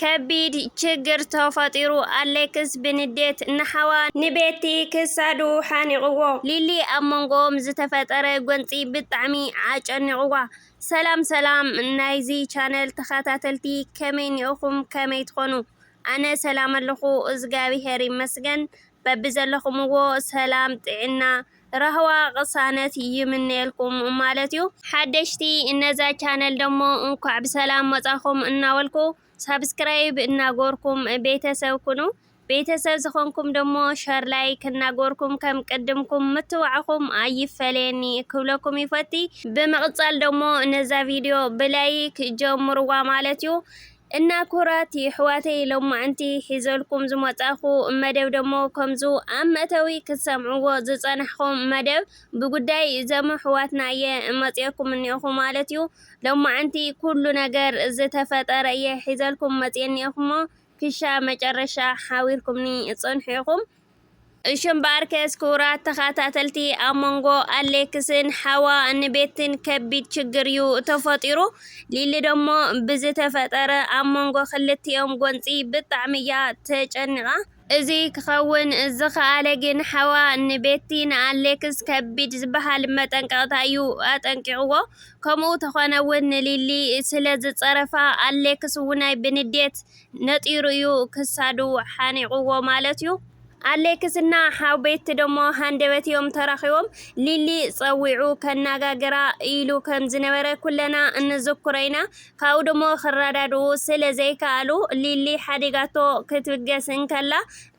ከቢድ ችግር ተፈጢሩ ኣሌክስ ብንዴት ንሓዋ ንቤቲ ክሳዱ ሓኒቕዎ። ሊሊ ኣብ መንጎኦም ዝተፈጠረ ጎንፂ ብጣዕሚ ኣጨኒቕዋ። ሰላም ሰላም ናይዚ ቻነል ተኸታተልቲ ከመይ ኒኦኹም ከመይ ትኾኑ ኣነ ሰላም ኣለኹ እዝጋቢሄር ይመስገን በቢዘለኹምዎ ሰላም ጥዒና ራህዋ ቅሳነት ይምነየልኩም ማለት እዩ። ሓደሽቲ እነዛ ቻነል ደሞ እንኳዕ ብሰላም መፃኹም እናበልኩ ሳብስክራይብ እናጎርኩም ቤተሰብ ኩኑ ቤተሰብ ዝኾንኩም ደሞ ሸር ላይክ እናጎርኩም ከም ቅድምኩም ምትባዕኹም ኣይፈለየኒ ክብለኩም ይፈቲ ብምቕፃል ደሞ ነዛ ቪድዮ ብላይክ ጀምርዋ ማለት እዩ እና ኩራት ይሕዋተይ ሎማዕንቲ ሒዘልኩም ዝመጻኩ መደብ ደሞ ከምዙ ኣብ መእተዊ ክትሰምዕዎ ዝጸናሕኩም መደብ ብጉዳይ ዘምኣሕዋትና እየ መጽኤኩም እኔኩ ማለት እዩ ሎማዕንቲ ኩሉ ነገር ዝተፈጠረ እየ ሒዘልኩም መጽኤ እኔኩሞ ክሻ መጨረሻ ሓዊርኩምኒ ጽንሑ ኢኩም እሽም ባርከስ ክቡራት ተኸታተልቲ ኣብ መንጎ ኣሌክስን ሓዋ ንቤትን ከቢድ ችግር እዩ ተፈጢሩ ሊሊ ደሞ ብዝተፈጠረ ኣብ መንጎ ክልቲኦም ጎንፂ ብጣዕሚ እያ ተጨኒቓ እዚ ክኸውን ዝኸኣለ ግን ሓዋ ንቤቲ ንኣሌክስ ከቢድ ዝበሃል መጠንቀቕታ እዩ ኣጠንቂቕዎ ከምኡ ተኾነ እውን ንሊሊ ስለ ዝፀረፋ ኣሌክስ ውናይ ብንዴት ነጢሩ እዩ ክሳዱ ሓኒቑዎ ማለት እዩ። ኣሌክስ እና ሓውቤቲ ደሞ ሃንደበት እዮም ተራኺቦም ሊሊ ጸዊዑ ከናጋግራ ኢሉ ከም ዝነበረ ኩለና እንዝኩሮ ኢና። ካብኡ ደሞ ክረዳድኡ ስለ ዘይከኣሉ ሊሊ ሓዲጋቶ ክትብገስ እንከላ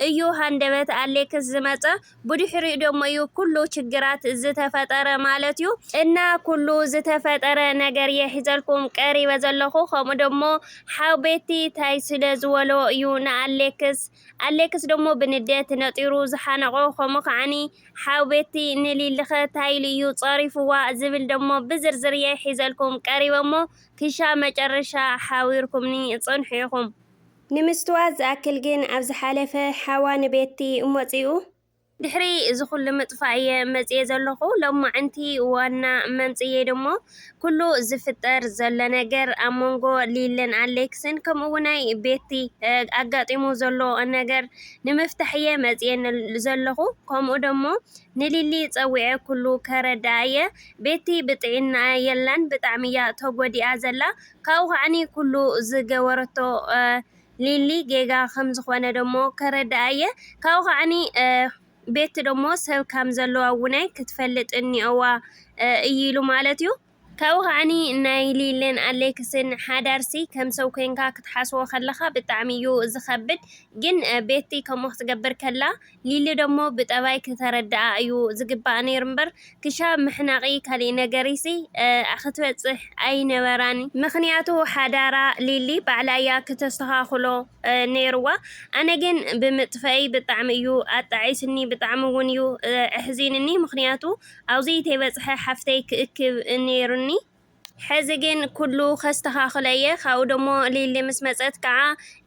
እዩ ሃንደበት ኣሌክስ ዝመጸ። ብድሕሪኡ ደሞ ዩ ኩሉ ችግራት ዝተፈጠረ ማለት ዩ እና ኩሉ ዝተፈጠረ ነገር እየ ሒዘልኩም ቀሪበ ዘለኩ ከምኡ ደሞ ሓው ቤቲ ታይ ስለ ዝወሎ ዩ ንኣሌክስ ኣሌክስ ደሞ ብንዴት ነጢሩ ዝሓነቆ ከምኡ ከዓኒ ሓው ቤቲ ንሊሊከ ታይ ኢሉ እዩ ፀሪፍዋ ዝብል ደሞ ብዝርዝር እየ ሒዘልኩም ቀሪበ እሞ ክሻ መጨረሻ ሓዊርኩምኒ ፅንሑ ኢኩም። ንምስትዋት ዝኣክል ግን ኣብ ዝሓለፈ ሓዋ ንቤቲ እሞጺኡ። ድሕሪ እዚ ኩሉ ምጥፋእ እየ መጽየ ዘለኩ ሎማዕንቲ ዋና መምጽየይ ደሞ ኩሉ ዝፍጠር ዘሎ ነገር ኣብ መንጎ ሊልን ኣሌክስን ከምኡውናይ ቤቲ ኣጋጢሙ ዘሎ ነገር ንምፍታሕ እየ መጽየ ዘለኩ ከምኡ ደሞ ንሊሊ ጸዊዐ ኩሉ ከረድኣ እየ ቤቲ ብጥዒናኣ የላን ብጣዕሚ እያ ተጎዲኣ ዘላ ካብኡ ከዓኒ ኩሉ ዝገበረቶ ሊሊ ጌጋ ከም ዝኾነ ደሞ ከረድኣ እየ ካብኡ ከዓኒ ቤቲ ደሞ ሰብ ከም ዘለዋ እውነ ክትፈልጥ እኒኦዋ እዩ ኢሉ ማለት እዩ ካብኡ ከዓኒ ናይ ሊልን ኣሌክስን ሓዳርሲ ከም ሰብ ኮይንካ ክትሓስቦ ከለኻ ብጣዕሚ እዩ ዝኸብድ ግን ቤቲ ከምኡ ክትገብር ከላ ሊሊ ደሞ ብጠባይ ክተረድኣ እዩ ዝግባኣ ነይሩ እምበር ክሻብ ምሕናቂ ካሊእ ነገርይሲ ክትበፅሕ ኣይነበራን ምክንያቱ ሓዳራ ሊሊ ባዕላ እያ ክተስተካክሎ ነይርዋ ኣነ ግን ብምጥፈእይ ብጣዕሚ እዩ ኣጣዒሱኒ ብጣዕሚ እውን እዩ ኣሕዚኑኒ ምክንያቱ ኣብዙይ ተይበፅሐ ሓፍተይ ክእክብ ነይሩኒ። ሕዚ ግን ኩሉ ከስተኻኽሎ እየ ካብኡ ደሞ ሊሊ ምስ መፀት ከዓ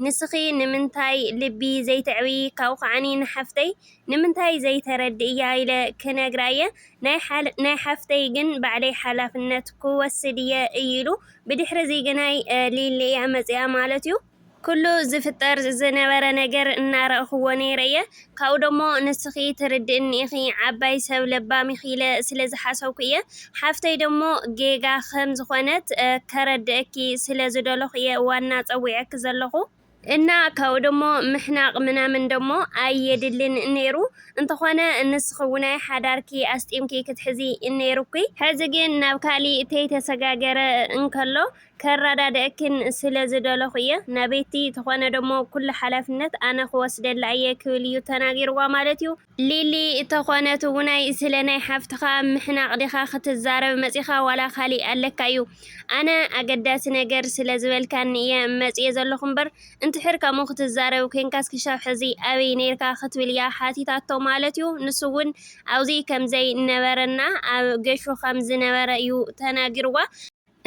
ንስኺ ንምንታይ ልቢ ዘይተዕብዪ ካብኡ ከዓኒ ንሓፍተይ ንምንታይ ዘይተረድእያ ኢለ ክነግራ እየ ናይ ሓፍተይ ግን ባዕለይ ሓላፍነት ክወስድ እየ እዩ ኢሉ ብድሕሪ እዚ ግናይ ሊሊ እያ መፂኣ ማለት እዩ ኩሉ ዝፍጠር ዝነበረ ነገር እናረኣኹዎ ነይረ'የ፣ ካብኡ ደሞ ንስኺ ትርድእኒ ኢኺ፣ ዓባይ ሰብ ለባም ኢኺ ኢለ ስለ ዝሓሰብኩ'የ፣ ሓፍተይ ደሞ ጌጋ ከም ዝኾነት ከረድኣኪ ስለ ዝደለኹ'የ ዋና ጸዊዐኪ ዘለኹ፣ እና ካብኡ ደሞ ምሕናቕ ምናምን ደሞ ኣየድልን ነይሩ፣ እንተኾነ ንስኺ'ውናይ ሓዳርኪ ኣስጢምኪ ክትሕዚ ነይሩኪ፣ ሕዚ ግን ናብ ካሊእ ተይተሰጋገረ እንከሎ ከረዳድኣክን ስለ ዝደለኹ እየ። ናበይቲ ተኾነ ደሞ ኩሉ ሓላፍነት ኣነ ክወስደላ እየ ክብል እዩ ተናጊርዋ ማለት እዩ። ሊሊ እተኾነት እውናይ ስለ ናይ ሓፍትኻ ምሕናቕ ዲኻ ክትዛረብ መጺኻ ዋላ ካሊእ ኣለካ እዩ ኣነ ኣገዳሲ ነገር ስለ ዝበልካኒ እየ መጽየ ዘለኹ እምበር እንትሕር ከምኡ ክትዛረብ ኮንካስ ክሻብ ሕዚ ኣበይ ነርካ ክትብል እያ ሓቲታቶ ማለት እዩ ንሱ እውን ኣብዚ ከምዘይ ነበረና ኣብ ገሹ ከም ዝነበረ እዩ ተናጊርዋ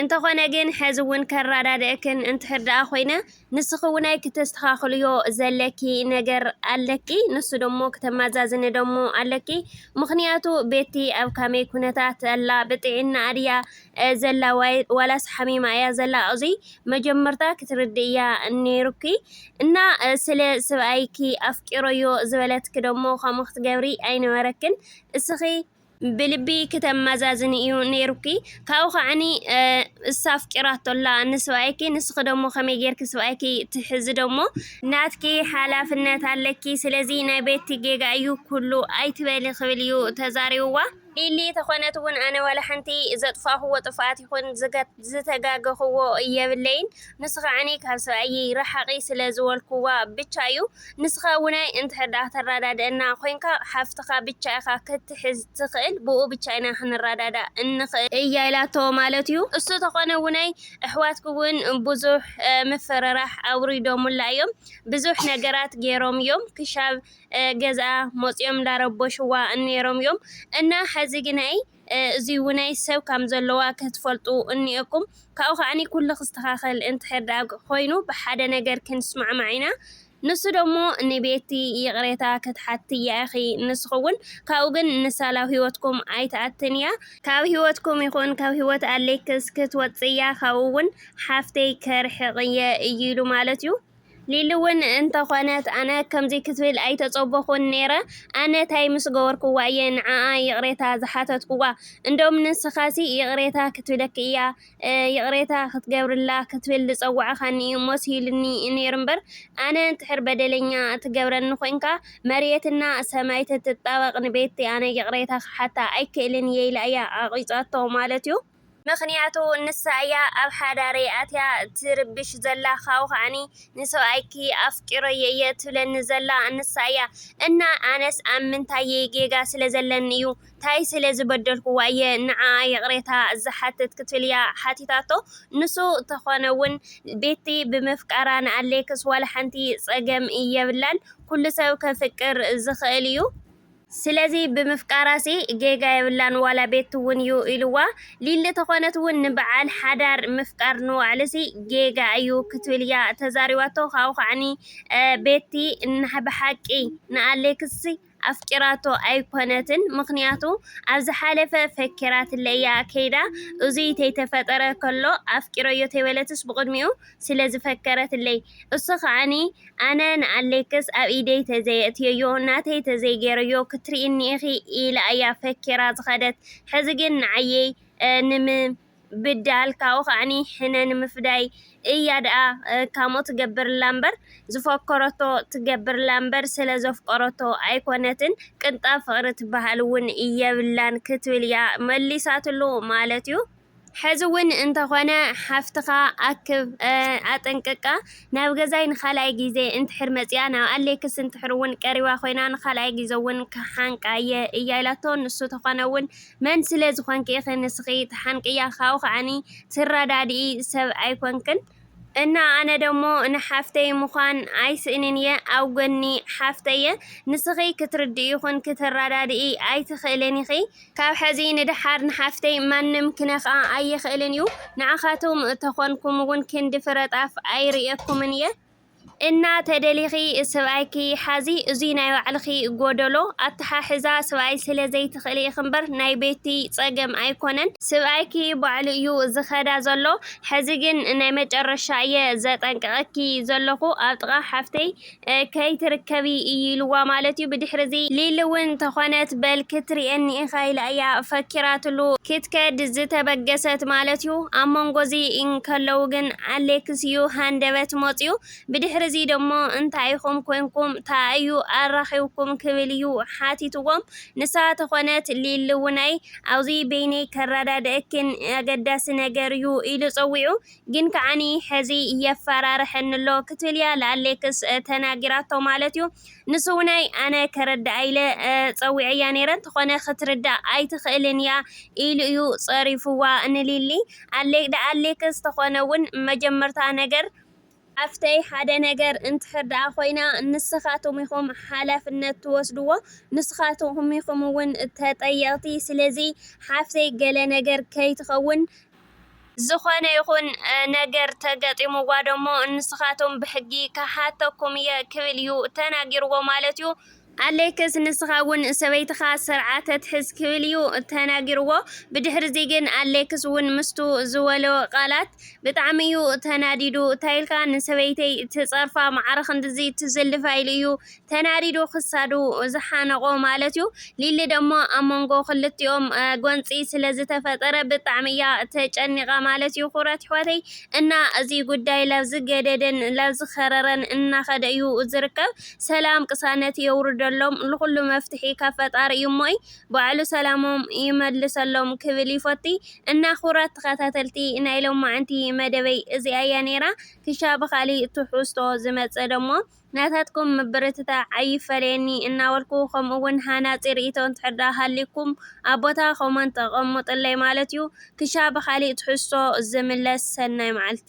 እንተኾነ ግን ሐዚ ውን ከራዳድኣክን እንድሕር ድኣ ኮይነ ንስኺ ውን ኣይ ክተስተኻኽልዮ ዘለኪ ነገር ኣለኪ ንሱ ደሞ ክተማዛዝኒ ደሞ ኣለኪ ምኽንያቱ ቤቲ ኣብ ካመይ ኩነታት ኣላ ብጥዒናኣ ድያ ዘላ ዋላስ ሓሚማ እያ ዘላ ኣዙይ መጀመርታ ክትርድእያ ነይሩኪ እና ስለ ስብኣይኪ ኣፍቂረዮ ዝበለትኪ ደሞ ከምኡ ክትገብሪ ኣይነበረክን እስኺ ብልቢ ክተማዛዝኒ እዩ ነይሩኪ ካብኡ ከዓኒ እሳ ኣፍቂራቶ ኣላ ንስብኣይኪ ንስኺ ደሞ ከመይ ጌርኪ ስብኣይኪ ትሕዚ ደሞ ናትኪ ሓላፍነት ኣለኪ ስለዚ ናይ ቤቲ ጌጋ እዩ ኩሉ ኣይትበሊ ክብል እዩ ተዛሪብዋ። ሊሊ ተኾነት እውን ኣነ ዋላ ሓንቲ ዘጥፋእኹዎ ጥፍኣት ይኹን ዝተጋገክዎ የብለይን ንስካ ዕነይ ካብ ሰብኣይይ ራሓቂ ስለ ዝበልክዋ ብቻ እዩ ንስካ እውናይ እንተሕዳእ ተራዳደእና ኮይንካ ሓፍትካ ብቻ ኢካ ክትሕዝ ትክእል ብኡ ብቻ ኢና ክንራዳዳእ እንክእል እያ ኢላቶ ማለት እዩ እሱ ተኮነ እውናይ እሕዋትኪ እውን ቡዙሕ ምፍርራሕ ኣውሪዶሙላ እዮም ብዙሕ ነገራት ገይሮም እዮም ክሻብ ገዝኣ ሞፅዮም እንዳረበሽዋ ነይሮም እዮም እና ሐዚ ግናይ እዙይ ውነይ ሰብ ካም ዘሎዋ ከትፈልጡ እንኤኩም ካብኡ ከኣኒ ኩሉ ክስተካከል እንተሕር ደኣ ኮይኑ ብሓደ ነገር ክንስማዕማዕ ኢና ንሱ ደሞ ንቤቲ ይቅሬታ ከትሓትያ ኢኪ ንስኪ ውን ካብኡ ግን ንሳ ላብ ሂወትኩም ኣይትኣትንያ ካብ ሂወትኩም ይኩን ካብ ሂወት ኣሌክስ ክትወጽእያ ካብኡ ውን ሓፍተይ ከርሕቅየ እዩ ኢሉ ማለት እዩ። ሊሊ ውን እንተ ኮነት ኣነ ከምዚ ክትብል ኣይተጸበኩን ኔረ ኣነ ታይ ምስ ገበርኩዋ እየ ንዓኣ ይቅሬታ ዝሓተትኩዋ እንዶም ንስካሲ ይቅሬታ ክትብለኪ እያ ይቅሬታ ክትገብርላ ክትብል ዝጸዋዕካኒ ሞስይሉኒ ኔሩ እምበር ኣነ እንድሕር በደለኛ ትገብረኒ ኮንካ መርየትና ሰማይ ትትጣበቅ ንቤቲ ኣነ ይቅሬታ ክሓታ ኣይክእልን እየ ኢላ እያ ዓቂጻቶ ማለትዩ ምክንያቱ ንሳ እያ ኣብ ሓዳረይ ኣትያ ትርብሽ ዘላ ካብኡ ከዓኒ ንሰብኣይኪ ኣፍቂረዮ እየ ትብለኒ ዘላ ንሳ እያ እና ኣነስ ኣብ ምንታየይ ጌጋ ስለ ዘለኒ እዩ ታይ ስለ ዝበደልክዋ እየ ንዓኣ ይቅሬታ ዝሓትት ክትብል እያ ሓቲታቶ ንሱ ተኮነ ውን ቤቲ ብምፍቃራ ንኣሌክስ ዋላ ሓንቲ ፀገም የብላን ኩሉ ሰብ ከፍቅር ዝክእል እዩ ስለዚ ብምፍቃራሲ ጌጋ የብላን ዋላ ቤቲ ውን ዩ ኢልዋ ሊሊ ተኾነት ውን ንባዓል ሓዳር ምፍቃር ንባዕሉሲ ጌጋ እዩ ክትብል እያ ተዛሪባቶ ካብኡ ከዓኒ ቤቲ ናብሓቂ ንኣሌክስ ኣፍቂራቶ ኣይኮነትን ምኽንያቱ ኣብዝሓለፈ ፈኪራትለ እያ ከይዳ እዙይ ተይተፈጠረ ከሎ ኣፍቂረዮ ተይበለትስ ብቅድሚኡ ስለ ዝፈከረትለይ እሱ ከኣ ኣነ ንኣሌክስ ኣብ ኢደይ ተዘየእትየዮ ናተይ ተዘይገይረዮ ክትሪኢኒ ኢኺ ኢላ እያ ፈኪራ ዝኸደት ሕዚ ግን ንዓይ ንምብዳል ካብኡ ከኣ ሕነ ንምፍዳይ እያ ደኣ ካምኡ ትገብርላ እምበር ዝፈከረቶ ትገብርላ እምበር ስለ ዘፍቀረቶ ኣይኮነትን ቅንጣብ ፍቅሪ ትበሃል እውን የብላን ክትብል እያ መሊሳትሉ ማለት እዩ። ሐዚ ውን እንተኾነ ሓፍትኻ ኣክብ ኣጠንቅቃ ናብ ገዛይ ንኻልኣይ ግዜ እንድሕር መፂኣ ናብ ኣሌክስ እንድሕር ውን ቀሪባ ኮይና ንኻልኣይ ግዘ ውን ክሓንቃ እየ እያ ኢላቶ ንሱ ተኾነ ውን መን ስለ ዝኾንኪ ኢኺ ንስኺ ትሓንቅያ ካብኡ ኸዓ ትረዳድኢ ሰብ ኣይኮንክን እና ኣነ ደሞ ንሓፍተይ ምኳን ኣይስእንን እየ ኣብ ጎኒ ሓፍተይ እየ ንስኪ ክትርድኢ ይኩን ክትራዳድኢ ኣይትክእልን ኢኪ ካብ ሐዚ ንደሓር ንሓፍተይ ማንም ክነክኣ ኣይክእልን እዩ ንዓካትኩም ተኮንኩም እውን ክንዲ ፍረጣፍ ኣይርእየኩምን እየ። እና ተደሊኪ ስብኣይኪ ሓዚ እዙይ ናይ ባዕልኪ ጎደሎ ኣታሓሕዛ ስብኣይ ስለ ዘይትክእሊ ኢኪ እምበር ናይ ቤቲ ፀገም ኣይኮነን ስብኣይኪ ባዕሉ እዩ ዝከዳ ዘሎ ሕዚ ግን ናይ መጨረሻ እየ ዘጠንቅቀኪ ዘለኩ ኣብ ጥቃ ሓፍተይ ከይትርከቢ እዩ ኢልዋ ማለት እዩ ብድሕሪ እዚ ሊሊ እውን ተኮነት በል ክትሪኤኒ ኢካ ኢላ እያ ፈኪራትሉ ክትከድ ዝተበገሰት ማለት እዩ ኣብ መንጎ እዚ እንከለው ግን ኣሌክስዩ ሃንደበት ሞጺኡ። ብድሕሪ'ዚ ደሞ እንታይ ኢኹም ኮይንኩም? ታኣ'ዩ ኣራኺብኩም? ክብል'ዩ ሓቲትዎም። ንሳ ተኾነት ሊሊ'ውን'ይ ኣብ'ዚ በይነይ ከረዳድኣኪን ኣገዳሲ ነገር'ዩ ኢሉ ጸዊዑ። ግን ከኣኒ ሕዚ የፈራርሐኒ'ሎ ክትብል'ያ ልኣሌክስ ተናጊራቶ ማለት'ዩ። ንስውናይ ኣነ ከረድኣ ኢለ ጸዊዐያ ነይረ እንተኾነ ክትርዳእ ኣይትኽእልን እያ ኢሉ እዩ ጸሪፉዋ ንሊሊ ኣለይ ደኣ ኣሌክስ ተኾነ ውን መጀመርታ ነገር ሓፍተይ ሓደ ነገር እንድሕር ደኣ ኮይና ንስኻትኩም ኢኹም ሓላፍነት ትወስድዎ ንስኻትኩም ኢኹም ውን ተጠየቕቲ ስለዚ ሓፍተይ ገለ ነገር ከይትኸውን ዝኾነ ይኹን ነገር ተገጢሙዋ ደሞ ንስኻቶም ብሕጊ ክሓተኩም እየ ክብል እዩ ተናጊርዎ ማለት እዩ። ኣሌክስ ንስኻ እውን ሰበይትኻ ስርዓ ተትሕዝ ክብል እዩ ተናጊርዎ። ብድሕርዚ ግን ኣሌክስ እውን ምስቱ ዝወሎ ቃላት ብጣዕሚ እዩ ተናዲዱ። ታይልካ ንሰበይተይ ትፀርፋ ማዕረ ክንድዚ ትዝልፋ ኢሉ እዩ ተናዲዱ ክሳዱ ዝሓነቖ ማለት'ዩ። ሊሊ ደሞ ኣብ መንጎ ክልቲኦም ጎንጺ ስለ ዝተፈጠረ ብጣዕሚ'ያ ተጨኒቓ ማለት'ዩ። ክቡራት ኣሕዋተይ እና እዚ ጉዳይ ላብ ዝገደደን ላብ ዝኸረረን እናኸደ እዩ ዝርከብ። ሰላም ቅሳነት የውርደሎም። ልኹሉ መፍትሒ ካብ ፈጣሪ እዩ እሞ'ይ ባዕሉ ሰላሞም ይመልሰሎም ክብል ይፎቲ። እና ክቡራት ተኸታተልቲ ናይ ሎማዕንቲ መደበይ እዚኣ'ያ ኔራ። ክሻ ብኻሊእ ትሕዝቶ ዝመጽእ ደሞ። ናታትኩም ምብርትታዕ ኣይፈለየኒ እናበልኩ ከምኡ ውን ሃናጺ ርኢቶ እንተድኣ ሃልዩኩም ኣብ ቦታ ኮመንት ኣቐሙጥለይ ማለት ዩ ክሻ ብኻሊእ ትሕዝቶ ዝምለስ ሰናይ መዓልቲ።